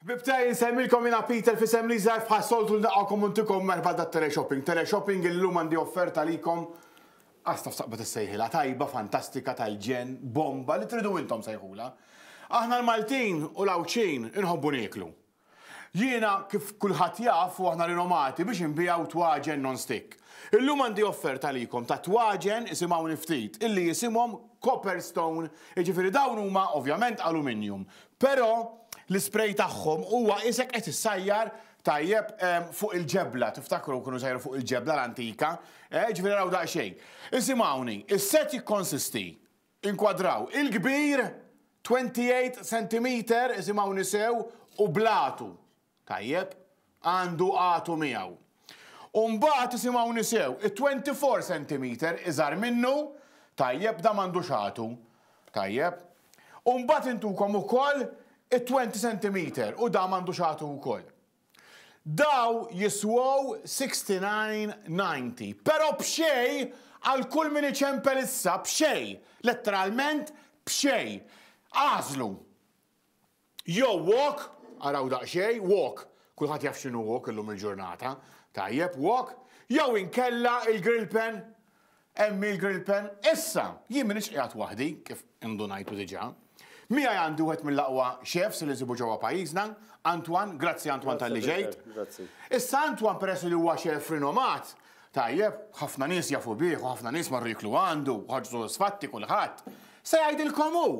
Ħbieb tiegħi insemmilkom jiena Peter f'isem l-Iżgħar f'bħas-soltu nilqgħukom u ntikom merħba dat-Teleshopping. Teleshopping illum għandi offerta għalikom As taf taqbad issejħilha tajba, fantastika, tal-ġenn, bomba, li tridu intom sejħulha. Aħna l-Maltin u l-Għawdxin inħobbu nieklu. Jiena kif kulħadd jaf u aħna rinomati biex inbiegħu twaġen non-stick. Illum għandi offerta għalikom ta' twaġen isimgħuni ftit illi jisimhom copper stone, jiġifieri dawn huma ovvjament aluminjum, Però l-ispray tagħhom huwa isek qed issajjar tajjeb fuq il-ġebla, tiftakru kienu jsajru fuq il-ġebla l-antika, eh, ġifieri raw daqsxejn. Isimgħuni, is-set jikkonsisti, inkwadraw, il-kbir 28 sentimeter, isimgħuni sew, u blatu, Tajjeb, għandu qagħtu miegħu. U mbagħad, isimgħuni sew, it-twenty four sentimeter iżgħar minnu, tajjeb, dan m'għandux qagħtu. Tajjeb? U mbagħad intukom ukoll it-twenty sentimeter u dan m'għandux qagħtu wkoll. Daw jiswow sixty nine ninety, però b'xejn għal kull min iċempel issa, b'xejn, letteralment b'xejn. Agħżlu! Jew walk, araw daqsxejn, walk, kulħadd jaf x'inhu walk illum il-ġurnata, tajjeb, walk, jew inkella il-grill pen, hemm hi l-grill pen. Issa, jien m'iniex qiegħed waħdi, kif indunajtu diġà. Miegħi għandi wieħed mill-aqwa chefs li nsibu ġewwa pajjiżna, Antoine, grazzi Antoine talli ġejt. Issa Antoine peress li huwa chef rinomat, tajjeb, ħafna nies jafu bih u ħafna nies marru jiklu għandu, ħarġu sodisfatti kulħadd, se jgħidilkom hu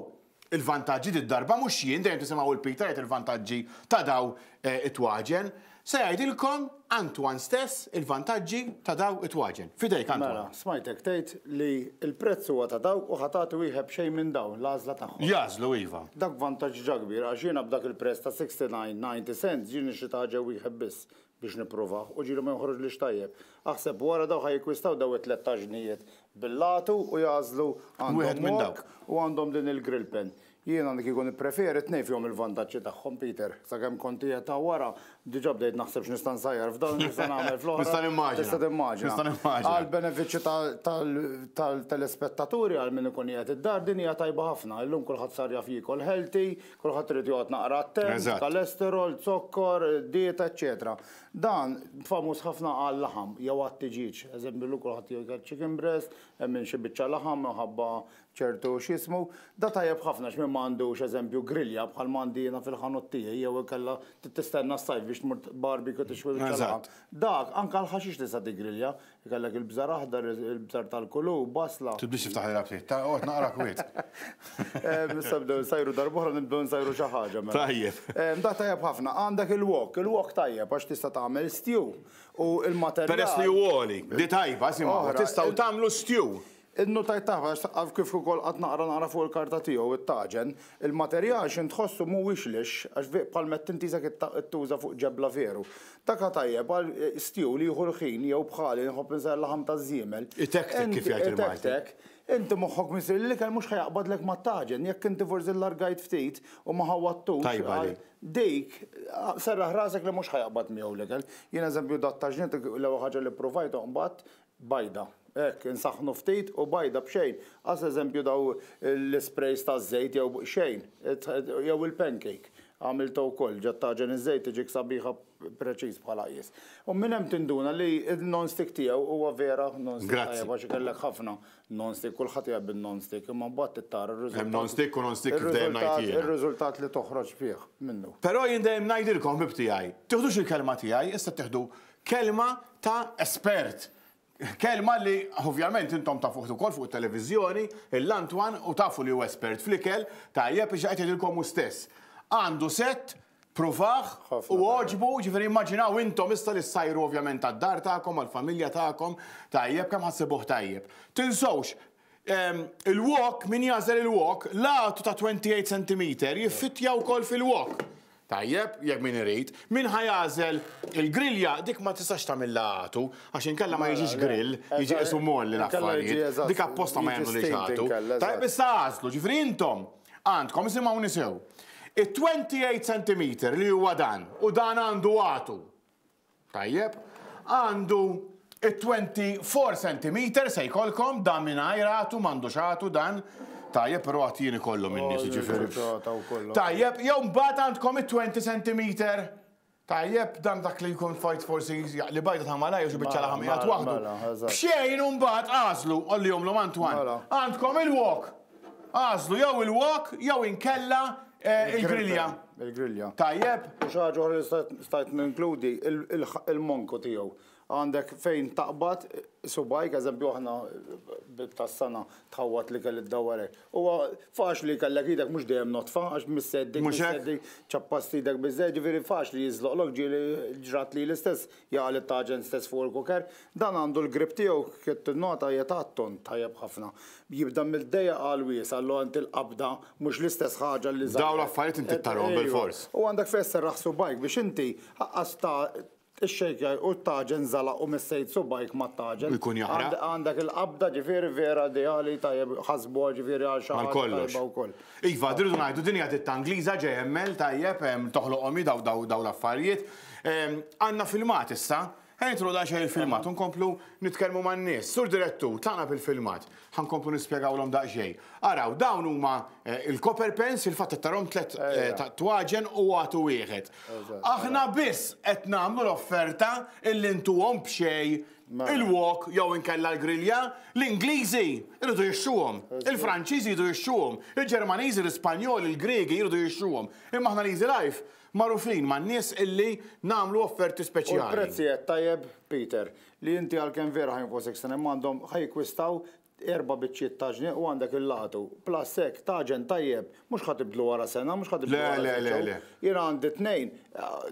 il-vantaġġi did-darba mhux jien, dejjem tisimgħu 'l Peter jgħid il-vantaġġi ta' daw it-twaġen. Se jgħidilkom Antoine stess il-vantaġġi ta' daw it-twaġen. F'idejk Antoine. Mela, smajtek tgħid li l-prezz huwa ta' dawk u ħa tagħti wieħed b'xejn minn dawn, l-għażla tagħhom. Jagħżlu, iva. Dak vantaġġ ġa kbir għax jiena b'dak il-prezz ta' 69, 90 cents ġieli nixtri ta' ħaġa wieħed biss, biex nippruvah u ġieli ma jonħroġlix tajjeb. Aħseb wara dawk ħa jikkwistaw daw it-tlett taġnijiet bil-lagħtu u jagħżlu għandhom wok u għandhom din il-grill pen. Jiena li kieku nippreferi tnejn fihom il-vantaġġi tagħhom Peter. Sakemm kont qiegħed hawn wara diġa' bdejt naħseb x'nista' nsajjar f'dan u x'nista' nagħmel fl-oħra. Nista' nimmaġina. Tista' timmaġina. Għall-benefiċċju tal-telespettaturi għal min ikun qiegħed id-dar din hija tajba ħafna. Illum kulħadd sar jaf jiekol healthy, Kulħadd irid joqgħod naqra attent, kolesterol, zokkor, dieta, eċċetera. Dan famuż ħafna għal laħam jew għat tiġieġ. Eżempju lu kulħadd jgħid chicken breast, hemm xi biċċa laħam minħabba ċertu x'ismu. Da tajjeb ħafna x'min ma għandux eżempju grilja bħal ma għandi jiena fil-ħanut tiegħi jew ikella tistenna s-sajf biex tmur barbecue tixwi biċċa laħam. Dak anke l-ħaxix tista' tiggrilja, Ikellek il-bżar aħdar, il-bżar tal-kulu, basla. Tibdix tiftaħ lilha b'ħid, ta' qgħod naqrak wisq. Issa bdew nsajru darb'oħra nibdew nsajru xi ħaġa mela. Tajjeb. Da tajjeb ħafna. Għandek il-wok, il-wok tajjeb għax tista' tagħmel stew u l-materjal. Peress li hu għoli, di tajba, simgħu, tistgħu tagħmlu stew. Innutajt taħt għax għaf kif ukoll qatt naqra naqra fuq il-karta tiegħu it-taġen, il-materjal xi ntħossu mhuwiex lixx għax vik bħal mett int isek ittuża fuq ġebla veru. Dak ha tajjeb għal stiew li jieħu l-ħin jew bħali nħobb insejħ il-laħam taż-żiemel. Itektek kif jgħid il-Malti. Itektek. Inti moħħok missier li l-ikel mhux ha jaqbadlek mat-taġen. Jekk inti forsi llargajt ftit u ma ħawwadtux. Tajba din. Dik, serraħ rasek li mhux ha jaqbad miegħu l-ikel. Jien eżempju dat-taġniet l-ewwel ħaġa li ppruvajthom imbagħad Bajda. Hekk, insaħħnu ftit u bajda b'xejn. As eżempju dawn l-ispreys taż-żejt jew xejn. Jew il-pancake. Għamiltha wkoll. Ġa tagħġen iż-żejt tiġik sabiħa preċiż bħala qies. U minn hemm tinduna li n-non-stick tiegħu huwa vera non-stick tajjeb għax ikellek ħafna non-stick, kulħadd iħobb in-non-stick, imma mbagħad trid tara r-riżultat. Hemm non-stick u non-stick kif dejjem ngħid jiena. Ir-riżultat li toħroġ bih minnu. Però jien dejjem ngħidilkom, ħbib tiegħi, tieħdux il-kelma tiegħi, issa ttieħdu Kelma ta' espert. Kelma li ovvjament intom tafuh ukoll fuq it-televiżjoni, il-Lantwan, u tafu li hu espert fl-ikel, tajjeb biex qed jgħidilkom hu stess. Għandu sett, pruvah, u għoġbu, jiġifieri immaġinaw intom issa li ssajru ovvjament għad-dar tagħkom, għall-familja tagħkom, tajjeb, kemm ħassibuh tajjeb. Tinsewx, Il-wok, min jagħżel il-wok, l-għatu ta' 28 sentimeter jiffittja wkoll fil-wok. Tajjeb, jekk min irid. Min ħa jagħżel il-grilja, dik ma tistax tagħmilha għatu, għax inkella ma jiġix grill, jiġi qisu molli l-affarijiet. Dik apposta ma jagħmlulhiex għatu. Tajjeb, issa għażlu, ġifieri intom għandkom, isimgħuni sew, it-28 sentimeter li huwa dan, u dan għandu għatu. Tajjeb. Għandu it-twenty four centimetres se jkollkom dan mingħajr għatu m'għandux għatu dan. Tajjeb, però għad jien ikollhom in-nies jiġifieri. Tajjeb, jew mbagħad għandkom it-twenty centimetre. Tajjeb, dan dak li jkun fajt forsi li bajda ta' malaj jew xi biċċa laħam qiegħed waħdu. B'xejn u mbagħad għażlu, qollihomlhom Antoine. Għandkom il-wok. Agħżlu jew il-wok jew inkella il-grilja. Il-grilja. Tajjeb. U xi ħaġa oħra li stajt ninkludi il-monku tiegħu. Għandek fejn taqbad subajk, eżempju aħna tas-sena tħawwat li kelli d-dawarek. Huwa faċli kellek idek mhux dejjem notfa għax misseddi, misseddi, ċappast idek biżżejjed, ġifieri faċli jiżloqlok ġieli ġrat lili stess Jaqa' lit-taġent stess fuq il-kuker. Dan għandu l-grip tiegħu, qed tinnota hija ta' tond tajjeb ħafna. Jibda mill-dejjaq għall-wiesgħa, allura inti l-qabda mhux l-istess ħaġa li żgħar. Dawn l-affarijiet inti ttarahom bilfors. U għandek fejn sserraħ subgħajk biex inti aqqas ta' ixxejkja u t-taġen żalaq u messejt subgħajk mat-taġen. Ikun jaħraq. Għandek il-qabda ġifieri vera ideali tajjeb ħasbuha ġifieri għal xi ħaġa tajba wkoll. Iva, rridu ngħidu din hija ditta Ingliża, JML, tajjeb, toħloqhom hi dawn l-affarijiet. Ehm, għanna filmat issa, Għajtru da xej il-filmat, unkomplu nitkelmu ma' n-nis, sur direttu, tana bil-filmat, ħankomplu nispiegaw l-om daqxej. Araw, dawn huma eh, il-copper pens, il-fatta tarom tlet eh, ta' twaġen u għatu wieħed. Aħna biss qed nagħmlu l-offerta illi ntuhom b'xej mela. il-wok jew inkella l-grilja, l-Ingliżi jridu jixxuhom, il-Franċiżi jridu jixxuhom, il-Ġermaniżi, l-Ispanjol, il-Griegi jridu jixxuhom. Imma aħna l-Easy Life Magħrufin man-nies illi nagħmlu offerti speċjali. U l-prezzijet tajjeb, Peter, li inti għalkemm vera ħa jinfgħu sixten imma għandhom ħa jikkwistaw erba' biċċiet ta' ġnien u għandek il-lagħtu. Plus hekk, taġen tajjeb, mhux ħa tibdlu wara sena, mhux ħa tibdlu wara sitt xhur. Le, le, le, le. Jien għandi tnejn,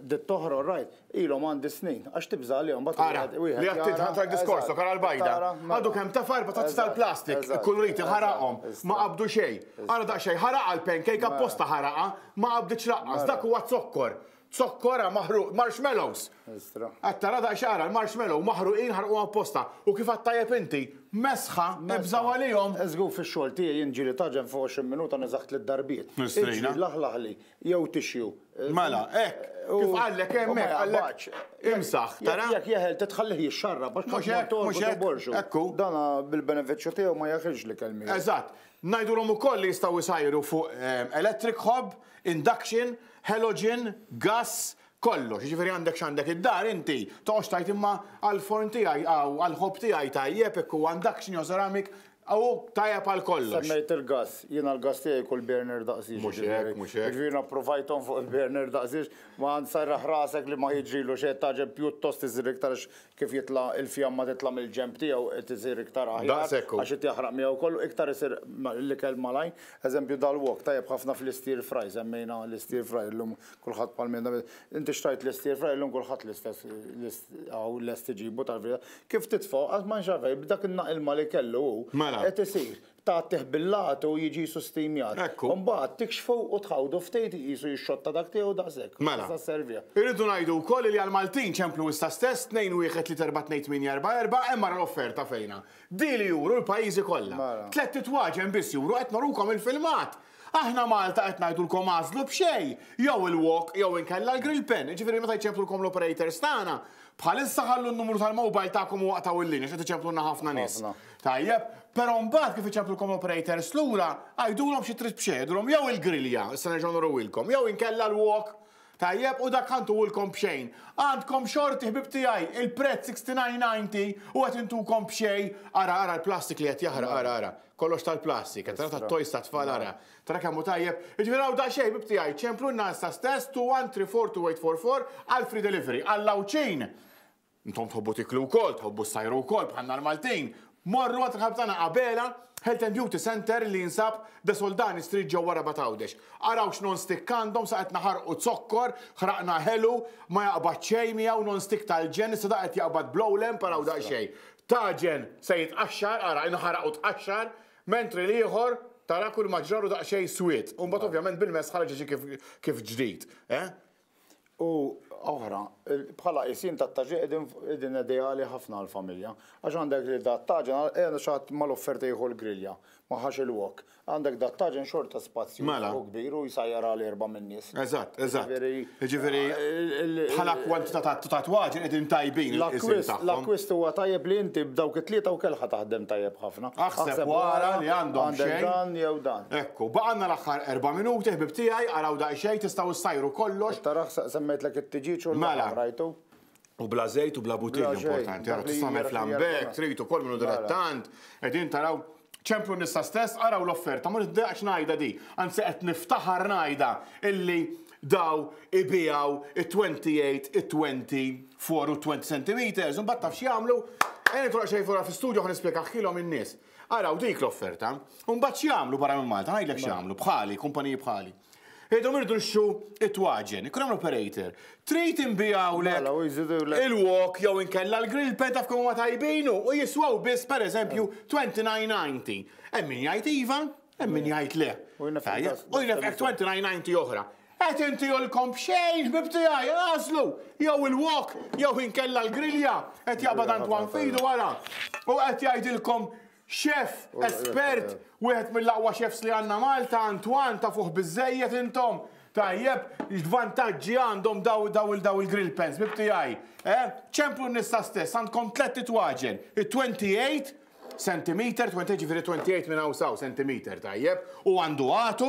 ditt t'oħra all right, ilhom għandi snin, għax tibża' għalihom mbagħad. Ara, li għad tidħaq ta' diskors ta' kara l-bajda. Għadu kemm ta' farba ta' tisal plastik, ikkuluriti ħaraqhom, ma qabdu xejn. Ara daqsxejn ħaraqa l-pancake apposta ħaraqa, Ma qabditx laqqas, dak huwa zokkor. Zokkora maħruq, marshmallows! Qed tara daqs x'qara, l-marshmallow maħruqin ħarquhom apposta. U kif għad tajjeb inti, mesħa, ibżgħu għalihom! Żgur fix-xogħol tiegħi jien ġieli taġen fuq 20 minuta neżagħ tliet darbiet. Iġri, laħlaħli, jew tixju. Mela, hekk, kif qallek hemm hekk, qallek imsaħ, tara? Jekk jeħel titħallih jixxarrab għax tmur torqod u borxu. Dana bil-benefiċċju tiegħu ma jeħilx l-ikel miegħu. Eżatt, Ngħidulhom ukoll li jistgħu jsajru fuq electric hob, induction, halogen, gass, kollox. Jiġifieri għandek x'għandek id-dar inti, toqgħodx tgħid imma għall-forn tiegħi hawn, għall-hob tiegħi tajjeb jekk huwa induction jew ceramic, hu tajjeb għal kollox. Semmejt il-gass, jiena l-gass tiegħi kull burner daqs jiġri. Mhux hekk, mhux hekk. Jiġifieri jiena pprovajthom fuq il-burner daqs jiġri, ma serraħ rasek li ma jiġrilu xejn, tagħġeb pjuttost iżżir iktar għax Kif jitla' il-fjamma titla' mill-ġenb tiegħu qed isir iktar aħjar. Daqs hekk hu. Għax qed jaħraq miegħu kollu, iktar isir l-ikel malajr. Eżempju dal-wok tajjeb ħafna fl-stir fry, semmejna l-stir fry llum kulħadd bħal min jagħmel. Inti xtrajt l-stir fry llum kulħadd l-istess hawn lest iġibu tal-verità. Kif titfgħu qatt ma nxarraf, b'dak in-naqilma li kellu hu. Mela. Qed isir. tagħtih bil-lati u jiġi sustinjat. Ekku. U mbagħad tikxfu u tħawdu ftejt iqisu jixxotta dak tiegħu daqshekk. Mela. Sa serviha. Irridu ngħidu wkoll li għall-Maltin ċemplu issa stess 2-1-3-4-2-8-4-4 hemm ara l-offerta fejna. Di li juru l-pajjiżi kollha. Mela. Tlett itwaġen biss juru qed nurukom il-filmat. Aħna Malta qed ngħidulkom agħżlu b'xejn, jew il-wok jew inkella l-grill pen, jiġifieri meta jċemplulkom l-operators tagħna, bħalissa ħallu n-numru tal-mobile tagħkom u aqtgħu l-linja għax qed iċemplulna ħafna nies. Ħafna. Tajjeb, pero mbagħad kif iċemplulkom l-operators lura, għidulhom xi trid b'xejn, għidulhom jew il-grilja, issa nerġgħu nuriwilkom, jew inkella l-wok, tajjeb, u dak għandu lkom b'xejn. Għandkom xorti ħbieb tiegħi, il-prezz 69.90 u qed intukom b'xejn, ara ara l-plastik li qed jaħraq, ara ara, kollox tal-plastik, qed tara tat-toys tat-tfal ara, tara kemm hu tajjeb, jiġifieri hawn daqsxejn ħbieb tiegħi, ċemplulna issa stess 213424 għall-free delivery, għall-Għawdxin! Intom tħobbu tiklu wkoll, tħobbu ssajru wkoll bħalna l-Maltin. Morru għand il-ħabib tagħna Abela Health and Beauty Centre li jinsab The Soldani Street ġewwa Rabat Għawdex. Araw x'non stick għandhom sa qed naħarqu zokkor, ħraqna ħelu, ma jaqbad xejn miegħu non stick tal-ġenn issa da qed jaqbad blow lamp araw daqsxejn. Taġen se jitqaxxar, ara inħaraq u tqaxxar, mentri l-ieħor tara kulma ġralu daqsxejn swied. U mbagħad ovvjament bil-mess ħareġ jiġi kif ġdid. Eh? u oħra, bħala qisin ta' taġi qegħdin ideali ħafna għall-familja. Għax għandek li da' taġen, qiegħda xi ħadd mal-offerta jieħu l-grilja, ma ħax il-wok. Għandek da' taġen xorta spazju mela. u kbir u jsajjar għal erba' min-nies. Eżatt, eżatt. Jiġifieri bħala kwantità ta' twaġen qegħdin tajbin. L-akkwist huwa tajjeb li inti b'dawk it-tlieta u kelħa taħdem tajjeb ħafna. Aħseb wara li għandhom xejn. Għandek dan jew dan. Ekku, baqgħalna l-aħħar erba' minuti, ħbieb tiegħi, araw daqsxejn, tistgħu ssajru kollox. Qed taraħ, semmejtlek it-tiġieġ u l-laħam, rajtu? U bla żejt u bla butin, importanti, araw, tista' tagħmel flambè, jekk trid ukoll minnu dilettant, qegħdin taraw, ċemplu n-nisa stess, araw l-offerta, ma nitdejjaqx ngħidha di, anzi qed niftaħar ngħidha illi daw ibiegħu it-twenty eight, it-twenty four u t-twenty centimetres, imbagħad taf x'jagħmlu? Ejja nidħlu daqsxejn fora fl-istudju ħa nispjegaħħilhom in-nies. Araw dik l-offerta. U mbagħad x'jagħmlu barra minn Malta, ngħidlek x'jagħmlu, bħali, kumpaniji bħali. Idhom irdu nxu it-twaġen, ikun hemm operator. Trid inbijaw le Mela, u jżidu l- il-wok jew inkella l-grill pen taf kemm huma tajbinu u jiswaw biss pereżempju 29.90. Hemm min jgħid iva, Hemm min jgħid le. U jnef X29 oħra. Qed inti jolkom b'xejn ħbib tiegħi għażlu jew il-wok jew inkella l-grilja qed jaqbad Antwan fidu wara. U qed jgħidilkom xef espert wieħed mill-aqwa xefs li għandna Malta Antwan ta' fuq biżejjed intom. Tajjeb, vantaġġi għandhom daw daw il-daw il-grill pens, bib tiegħi. Eh? Ċemplu nista stess, għandkom tlet titwaġen, it-28, Sentimeter, 28 jiġifieri 28 minn hawn s'hawn, sentimeter, tajjeb, u għandu għatu,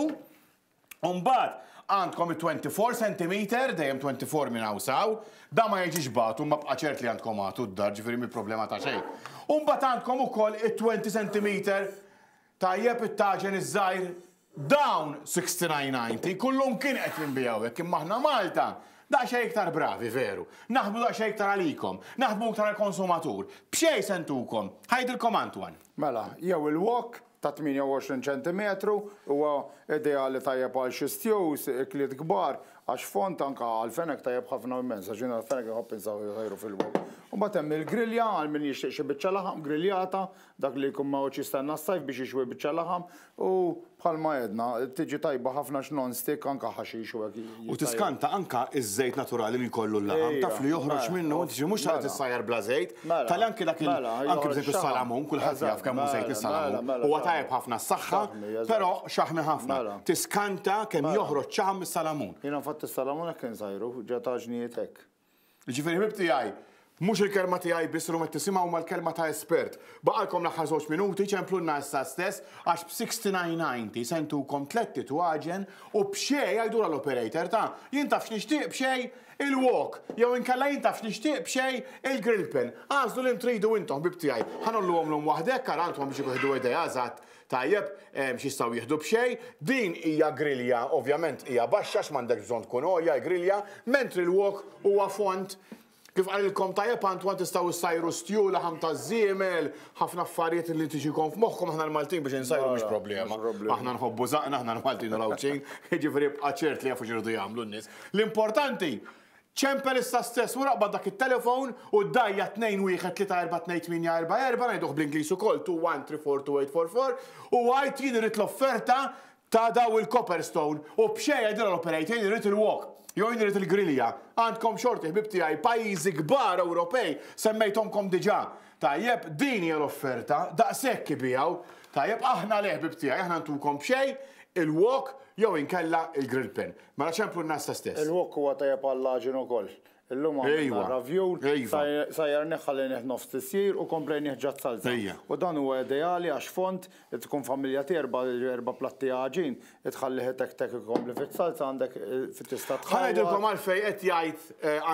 u mbagħad għandkom it-24 sentimeter, dejjem 24 minn hawn s'hawn, dan ma jiġix b'għatu, imma bqa' ċert li għandkom għatu d-dar, ġifieri mhi problema ta' xejn. U mbagħad għandkom ukoll it-20 sentimeter Tajjeb it-taġen iż-żgħir? Dawn 69.90 kullu mkien qed jinbiegħu hekk imma aħna Malta daqsxejn iktar bravi veru. Naħdmu daqsxejn iktar għalikom. Naħdmu iktar għall-konsumatur. B'xejn se ntukom. Ħajdilkom Antoine. Mela, jew il-wok ta' 28 ċentimetru huwa ideali tajjeb għal xi stews, ikliet kbar, għax fond anke għall-fenek tajjeb ħafna u immens għax jien għall-fenek inħobb insaħħu fil-wok. Imbagħad hemm il-grilja għal min jixtieq xi biċċa laħam griljata, Dak li jkun ma jgħodx jistenna s-sajf biex jixwi biċċa laħam u bħalma għedna, tiġi tajba ħafna x'nonstick anke ħaxix u hekk. U tiskanta anke ż-żejt naturali li jkollu l-laħam, taf li joħroġ minnu, inti mhux se tissajjar bla żejt, tali anke dak il, anke pereżempju s-salamun, kulħadd jaf kemm hu żejt is-salamun, huwa tajjeb ħafna għas-saħħa, però xaħmi ħafna. Tiskanta kemm joħroġ ċaħam mis-salamun. Jiena infatti s-salamun hekk insajru, ġa taġnijiet hekk. Jiġifieri ħbib tiegħi, mhux il-kelma tiegħi biss illum qed tisimgħu imma l-kelma ta' espert. Baqgħalkom l-aħħar żewġ minuti, ċemplulna issa stess għax b'69.90 se ntukom tlett titwaġen u b'xejn, għidulha l-operator, ta, jien taf x'nixtieq b'xejn il-wok jew inkella jien taf x'nixtieq b'xejn il-grill pen. Agħżlu li tridu intom ħbib tiegħi. Ħa ngħolluhom lum waħdekk ara intom biex ikun ħdu idea eżatt Tajjeb, x'jistgħu jieħdu b'xejn. Din hija grilja, ovvjament hija baxxa għax m'għandekx bżonn tkun għolja l-grilja, mentri l-wok huwa fond. Kif qalilkom tajjeb Antoine tistgħu ssajru stju, laħam taż-żiemel, ħafna affarijiet li tiġikom f'moħħkom aħna l-Maltin biex insajru mhux problema. Aħna nħobbu żaqna aħna l-Maltin u l-Għawdxin, jiġifieri bqa' ċert li jafu x'iridu jagħmlu n-nies. L-importanti Ċempel issa stess wara qbad dak it-telefown u ddajja' 2134384, ngħiduh bl-Ingliż ukoll 2134284, u għid jien irrid l-offerta ta' daw il-Copperstone u b'xejn għidilha l-operator jien irrid il-wok jew jien irrid il-grilja. Għandkom xorti ħbieb tiegħi pajjiżi kbar Ewropej, semmejthomkom diġà. Tajjeb, din hija l-offerta, daqshekk ibigħu. Tajjeb, aħna le ħbieb tiegħi, aħna ntukom b'xejn, il-wok jew inkella il-grill pin. Mela x'hemm fuq n-nasta stess? Il-wok huwa tajjeb għall-għaġin ukoll. Illum għamilna ravjul, sajjarnih ħallejnih nofs tisjir u komplejnih ġat salsa. U dan huwa ideali għax fond, li tkun familja tiegħi erba' platti għaġin, li tħallih itektek ikompli fis-salsa għandek tista' tħawwad. Ħa ngħidilkom għalfejn qed jgħid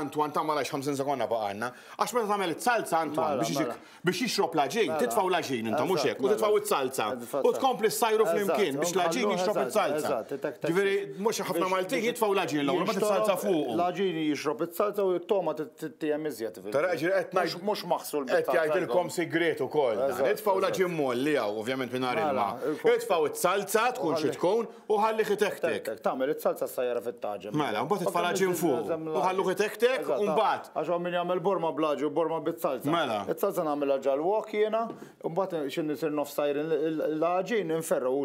Antoine tagħmel għax 50 sekonda baqgħalna. Għax meta tagħmel is-salsa Antoine biex iġik biex jixrob l-għaġin, titfgħu l-għaġin intom mhux hekk, u titfgħu s-salza. U tkompli ssajru flimkien biex l-għaġin jixrob is-salza. Ġifieri mhux ħafna Maltin jitfgħu l-għaġin l-ewwel mbagħad is-salza fuq. L-għaġin jixrob is-salza u t-togħma tittiehem iżjed. Tara ġifieri qed ngħid mhux maħsul biss. Qed jgħidilkom sigriet ukoll. Itfgħu l-għaġin molli hawn ovvjament mingħajr ilma. Itfgħu s-salza tkun xi tkun. u ħallih itektek. Tagħmel it-salsa s-sajjara fit-taġem. Mela, mbagħad it-faraġin fuq. U ħalluh itektek u mbagħad. Għax hawn min jagħmel borma blaġi u borma bit-salsa. Mela. It-salsa nagħmilha ġal wok jiena, u mbagħad xi nisir nofs tajrin l-ħaġin inferru u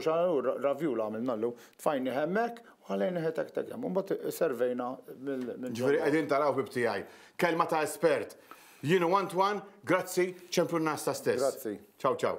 ravjula għamilna llum. Tfajni hemmhekk u ħallejni itektek hemm. Mbagħad servejna minn. Ġifieri qegħdin taraw bib tiegħi. Kelma ta' espert. Jienu one to one, grazzi, ċempju n-nas ta' stess. Grazzi. Ciao ciao.